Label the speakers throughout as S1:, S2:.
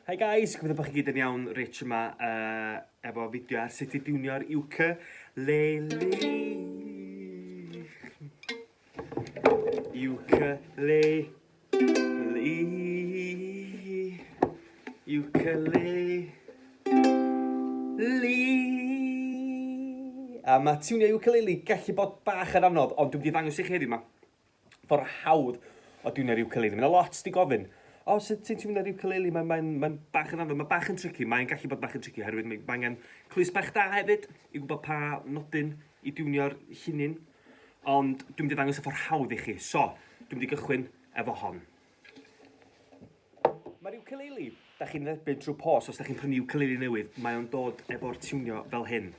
S1: Hi guys, gwybod bod chi gyd yn iawn rich yma uh, efo fideo ar sut i diwnio'r uke leli. Uke le li. Uke le li. A mae tiwnio ukulele gallu bod bach yn anodd, ond dwi'n mynd i ddangos i chi heddiw ma. Ffordd hawdd o dwi'n yr ukulele. Mae yna lot di gofyn, o, sut ti'n ti'n mynd yr ukulele? Mae'n mae, mae bach yn anodd, mae bach yn tricky, mae'n gallu bod bach yn tricky, oherwydd mae angen clus bach da hefyd i gwybod pa nodyn i diwnio'r llinyn. Ond dwi'n mynd i ddangos y ffordd hawdd i chi. So, dwi'n mynd i gychwyn efo hon. Mae'r ukulele, da chi'n dderbyn trwy pos os da chi'n prynu ukulele newydd, mae o'n dod efo'r tiwnio fel hyn.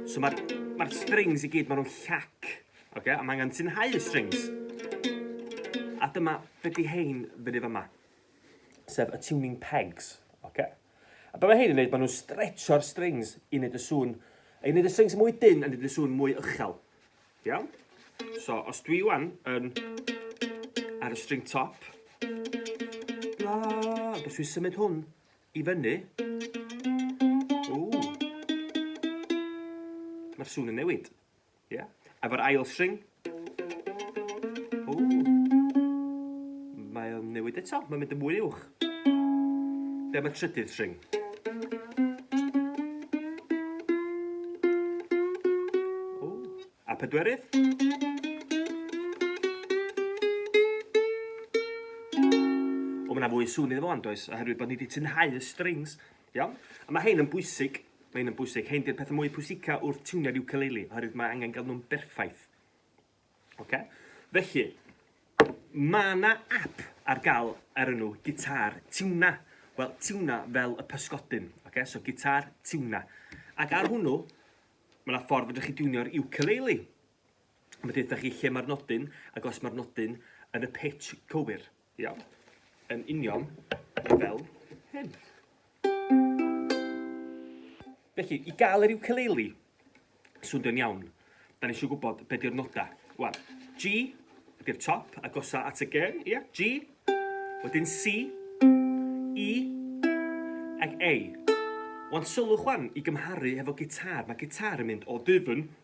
S1: So mae'r ma strings i gyd, maen nhw'n llac, okay? a mae angen tynhau y strings. A dyma beth hein fyny fyma, sef y tuning pegs. Okay? A beth mae hein yn gwneud, maen nhw'n stretcho'r strings i wneud y sŵn, i wneud y strings mwy dyn a wneud y sŵn mwy uchel. Iawn? So, os dwi wan yn ar y string top, bla, os dwi'n symud hwn i fyny, mae'r sŵn yn newid. Yeah? Efo'r ail string, mae'n newid eto, mae'n mynd yn mwy uwch. Ble am y trydydd tring? O, a pedwerydd? O, mae yna fwy sŵn iddo fo, ond does, oherwydd bod ni wedi tynhau y strings. Iawn? A mae hein yn bwysig, mae hein yn bwysig. Hein di'r pethau mwy pwysica wrth tiwnio'r ukulele, oherwydd mae angen gael nhw'n berffaith. Oce? Felly, ma' 'na ap ar ga'l ar enw Guitar Tiwna. Wel, tiwna fel y pysgodyn, oce? So Guitar Tiwna. Ac ar hwnnw, ma' 'na ffordd fedrwch chi diwnio'r ukulele. Ma' deutha chi lle ma'r nodyn, ac os ma'r nodyn yn y pitch cywir. Iawn. Yn union fel hyn. Felly, i gael yr ukulele swnio'n iawn, da ni eisiau gwybod be di'r noda. Wan, G ydy'r top, agosa at y gen, ia? G, wedyn C, E, ac A. Wan, sylwch wan i gymharu hefo gitar. Mae gitar yn mynd o dyfn,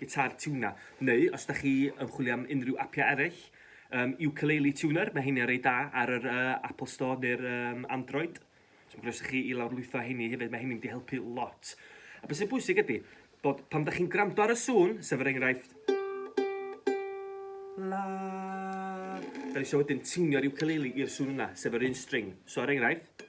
S1: Guitar Tuner, neu os da chi yn chwilio am unrhyw apiau eraill, um, Ukulele Tuner, mae heiniau'n rei da ar yr uh, Apple Store neu'r um, Android. So mae'n groeso chi i lawrlwytho heini hefyd, mae heini'n mynd i helpu lot. A beth sy'n bwysig ydy, bod pan da chi'n gwrando ar y sŵn, sef yr enghraifft... La... Da ni eisiau wedyn tiwnio'r ukulele i'r sŵn yna, sef yr un string. So er enghraifft...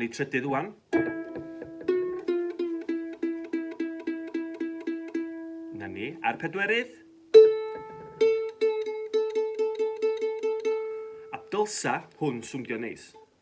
S1: ni trydydd wan. Na ni, a'r pedwerydd. A dylsa hwn swngio neis.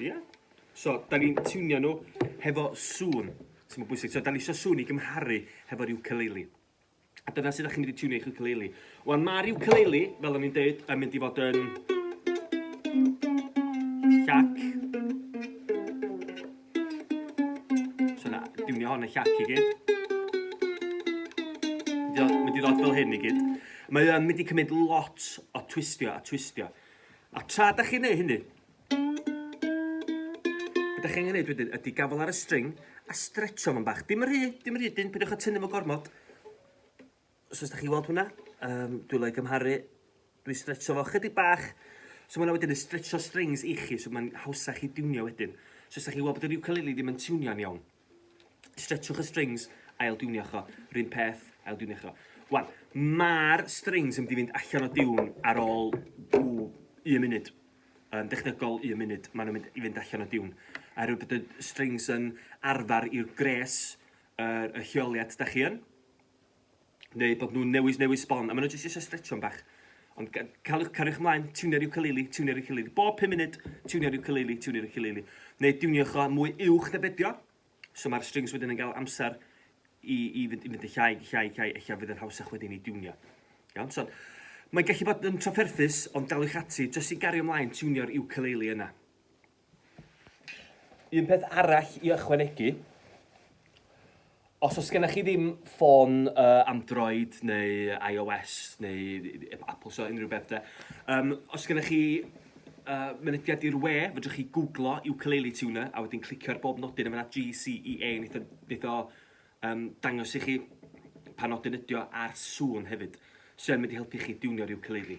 S1: Ia. So, da ni'n tiwnio nhw hefo sŵn. So, mae'n bwysig. So, da ni eisiau sŵn i gymharu hefo'r ukulele. A dyna sut da chi'n mynd i tiwnio eich ukulele. Wan, mae'r ukulele, fel o'n i'n dweud, yn mynd i fod yn... Llac. So na, dwi'n ni hon yn llac i gyd. Mae di ddod fel hyn i gyd. Mae o'n mynd i cymryd lot o twistio a twistio. A tra da chi'n neud hynny, da chi'n neud wedyn ydy gafel ar y string a stretcho fo'n bach. Dim rhy, dim rhy dyn, pidwch a tynnu fo gormod. So os da chi'n weld hwnna, um, dwi'n ei gymharu, dwi'n stretcho fo chydig bach, so mae hwnna wedyn yn stretcho strings i chi, so mae'n hawsach i diwnio wedyn. So os da chi'n weld bod yr ukulele ddim yn tiwnio'n iawn, stretchwch y strings, ail diwnio cho, rhywun peth, ail diwnio cho. Wan, mae'r strings yn mynd i fynd allan o diwn ar ôl un munud yn dechnegol un munud, maen nhw'n mynd i fynd allan o diwn. A rhyw bod y strings yn arfer i'r gres, y, y lleoliad da chi yn. neu bod nhw'n newid newid sbon, a maen nhw jyst eisiau stretchio'n bach. Ond ca- caliwch, cariwch ymlaen, tiwnio'r ukulele, tiwnio'r ukulele. Bob 5 munud, tiwnio'r ukulele, tiwnio'r ukulele. Neu diwniwch o mwy uwch na bedio. So mae'r strings wedyn yn cael amser i, i, fynd, i fynd yn llai, llai, llai, eich fydd yn hawsach wedyn i diwnio. Iawn, so mae'n gallu bod yn trafferthus, ond daliwch ati, jyst i gario ymlaen, tiwnio'r ukulele yna. Un peth arall i ychwanegu, os oes gennych chi ddim ffôn uh, Android neu iOS neu Apple Store, unrhyw beth de, um, os gennych chi uh, mynediad i'r we, fydrwch chi googlo ukulele tuner a wedyn clicio ar bob nodyn yma GCEA, neith o, neith o um, dangos i chi pa nodyn ydio a'r sŵn hefyd. So yn mynd i helpu chi diwnio'r ukulele.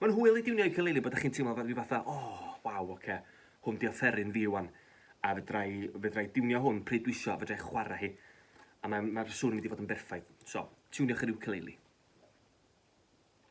S1: Mae'n hwyl i diwnio iwcalili bod chi'n teimlo fel rhyw fath o 'O, waw, oce, hwn 'di offeryn fi 'wan, a fedra i fedra i diwnio hwn pryd dwi isio, fedra i chwarae hi, a mae mae'r sŵn yn mynd i fod yn berffaith. So, tiwniwch yr iwcalili.